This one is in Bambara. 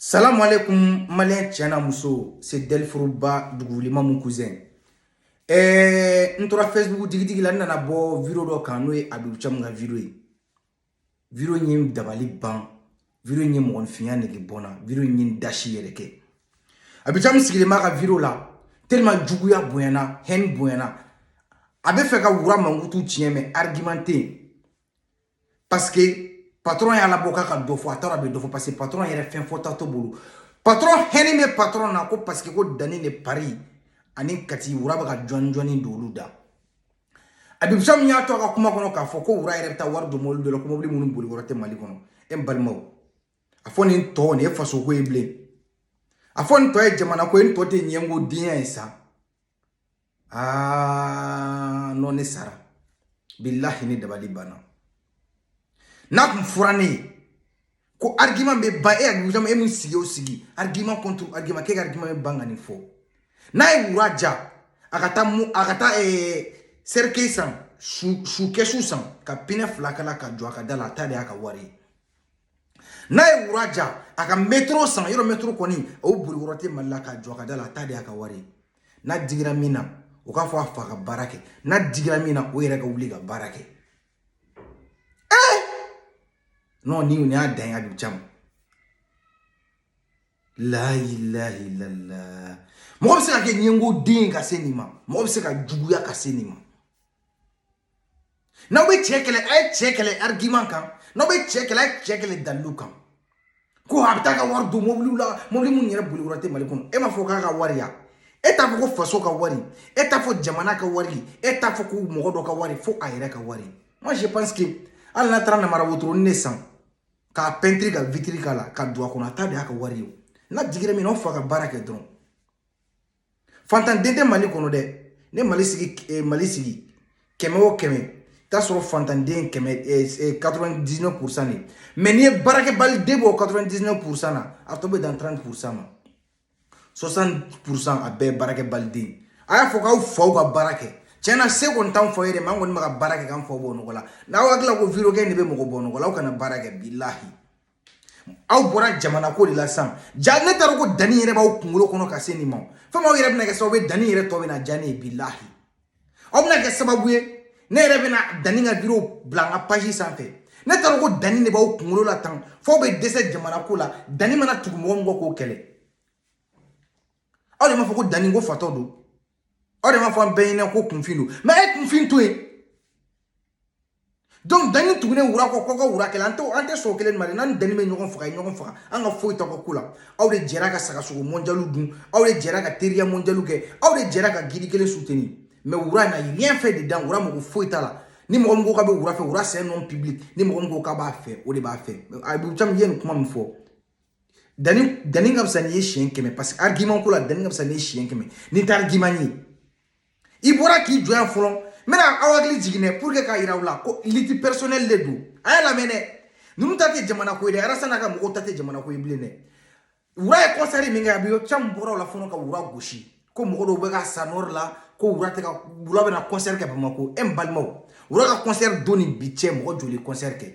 Salamu alaikum maliyɛn cɛ n'a muso c'est Dɛlifuruba Dugukolo mon cousin ɛɛ n tora Facebook digidigi la n nana bɔ video dɔ kan n'o ye Abibu Camu ka video ye video in ye n dabali ban video in ye mɔgɔninfinya nege bɔ n na video in ye n dasi yɛrɛ kɛ Abibu Camu sigilen b'a ka video la tellement juguya bonyana haine bonyana a bɛ fɛ ka wura mankutu tiɲɛ mais argument tɛ yen parce que patron y'a labɔ k'a ka dɔ fɔ a taara bɛ dɔ fɔ parce que patron yɛrɛ fɛn fɔta t'o bolo patron haine bɛ patron na ko parce que ko Dani de Paris ani kati wura bɛ ka jɔni jɔni don olu da Abibu Camu y'a to a ka kuma kɔnɔ k'a fɔ ko wura yɛrɛ bɛ taa wari don mɔbili dɔ la ko mɔbili minnu boli yɔrɔ tɛ mali kɔnɔ e n balimaw a fɔ nin tɔ de ye fasoko ye bilen a fɔ nin tɔ ye jamana ko ye nin tɔ tɛ ɲɛngo denya ye sa aa non ne sara bilahi ne dabali banna n'a tun fɔra ne ye ko argument bɛ ban e Abibu Camu e min sigi o sigi argument contre argument k'e ka argument bɛ ban ka nin fɔ n'a ye wura diya a ka taa mu a ka taa eh, cercueil san su su kɛsu san ka pinɛ fila k'a la k'a jɔ a ka da la a ta de y'a ka wari ye n'a ye wura diya a ka mɛtoro san yɔrɔ mɛtoro kɔni o boli yɔrɔ tɛ mali la k'a jɔ a ka da la a ta de y'a ka wari ye n'a digira min na o k'a fɔ a fa ka baara kɛ n'a digira min na o yɛrɛ ka wuli ka baara kɛ ee non ni nin y'a dan ye Abibu Camu layilahilallah mɔgɔ bɛ se ka kɛ ɲɛngo den ka se nin ma mɔgɔ bɛ se ka juguya ka se nin ma n'aw bɛ cɛ kɛlɛ a ye cɛ kɛlɛ arigiman kan n'aw bɛ cɛ kɛlɛ a ye cɛ kɛlɛ dalilu kan ko a bɛ taa ka wari don mobiliw la mobili minnu yɛrɛ boli yɔrɔ tɛ mali kɔnɔ e m'a fɔ k'a ka wari ya e t'a fɔ ko faso ka wari e t'a fɔ jamana ka wari e t'a fɔ ko mɔgɔ dɔ ka wari fo a yɛrɛ ka wari moi je pense que hali n'a taara namara wotoronin de san k'a pɛntiri ka vitiri k'a la ka don a kɔnɔ a ta de y'a ka wari ye n'a digira min na o fa ka baara kɛ dɔrɔn fantan den tɛ mali kɔnɔ dɛ ne mali sigi eh, mali sigi kɛmɛ o kɛmɛ t'a sɔrɔ fantanden kɛmɛ 99 eh, eh, pourcent de mais n'i ye baarakɛbali den bɔ 99 pourcent na a tɔ bɛ dan 30 pourcent ma 60 pourcent a bɛɛ baarakɛbali den a y'a fɔ k'aw faw ka baara kɛ tiɲɛ na se kɔni t'anw faw ye dɛ mais an kɔni bɛ ka baara kɛ k'an faw bɔ nɔgɔ la n'aw hakili la ko video kɛ de bɛ mɔgɔ bɔ nɔgɔ la aw kana baara kɛ bilahi aw bɔra jamana ko de la sisan jaa ne t'a dɔn ko Dani yɛrɛ b'aw kunkolo kɔnɔ ka se nin ma fo aw yɛrɛ bɛna kɛ sababu ye Dani yɛrɛ tɔ bɛna diya ne ye bilahi aw bɛna kɛ sababu ye ne yɛrɛ bɛna Dani ka video bila n ka page sanfɛ ne t'a dɔn ko Dani de b'aw kunkolo la tan f'aw bɛ dɛsɛ jamana ko la Dani mana tugu mɔgɔ min kɔ k'o kɛlɛ aw de m'a fɔ ko Dani ko fatɔ don o de b'a fɔ an bɛɛ ɲɛna ko kunfin don mais e kunfin to yen donc danni tugunen wura kɔ kɔkɔ wura kɛlɛ an tɛ an tɛ sɔn kelen ma dɛ n'an danni bɛ ɲɔgɔn faga ɲɔgɔn faga an ka foyi t'a ka ko la aw de jɛra ka sagasogo mɔnjaliw dun aw de jɛra ka teriya mɔnjaliw kɛ aw de jɛra ka gidi kelen suteni mais wura n'a rien fait dedans wura mɔgɔ foyi t'a la ni mɔgɔ min ko k'a bɛ wura fɛ wura c'est un homme public ni mɔgɔ min ko k'a b'a fɛ o de b'a fɛ abibu camu ye nin kuma min fɔ danni danni ka fisa n'i ye siɲɛ kɛmɛ paseke argument ko la danni ka fisa n'i ye siɲɛ kɛmɛ n'i tɛ argument ye i bɔra k'i jɔ yan fɔlɔ n bɛna aw hakili jigin dɛ pour que k'a yira aw la ko lutte personnelle de don a y'a lamɛn dɛ ninnu ta tɛ jamana ko ye dɛ arasa n'a ka mɔgɔw ta tɛ jamana ko ye bilen dɛ wura ye kɔnsɛri min kɛ abibu camu bɔra o la fɔlɔ ka wura gosi ko mɔgɔ dɔw bɛ ka sa nɔri la ko wura tɛ ka wura bɛna kɔnsɛri kɛ bamakɔ e n balimaw wura ka kɔnsɛri don ni bi cɛ mɔgɔ joli kɔnsɛri kɛ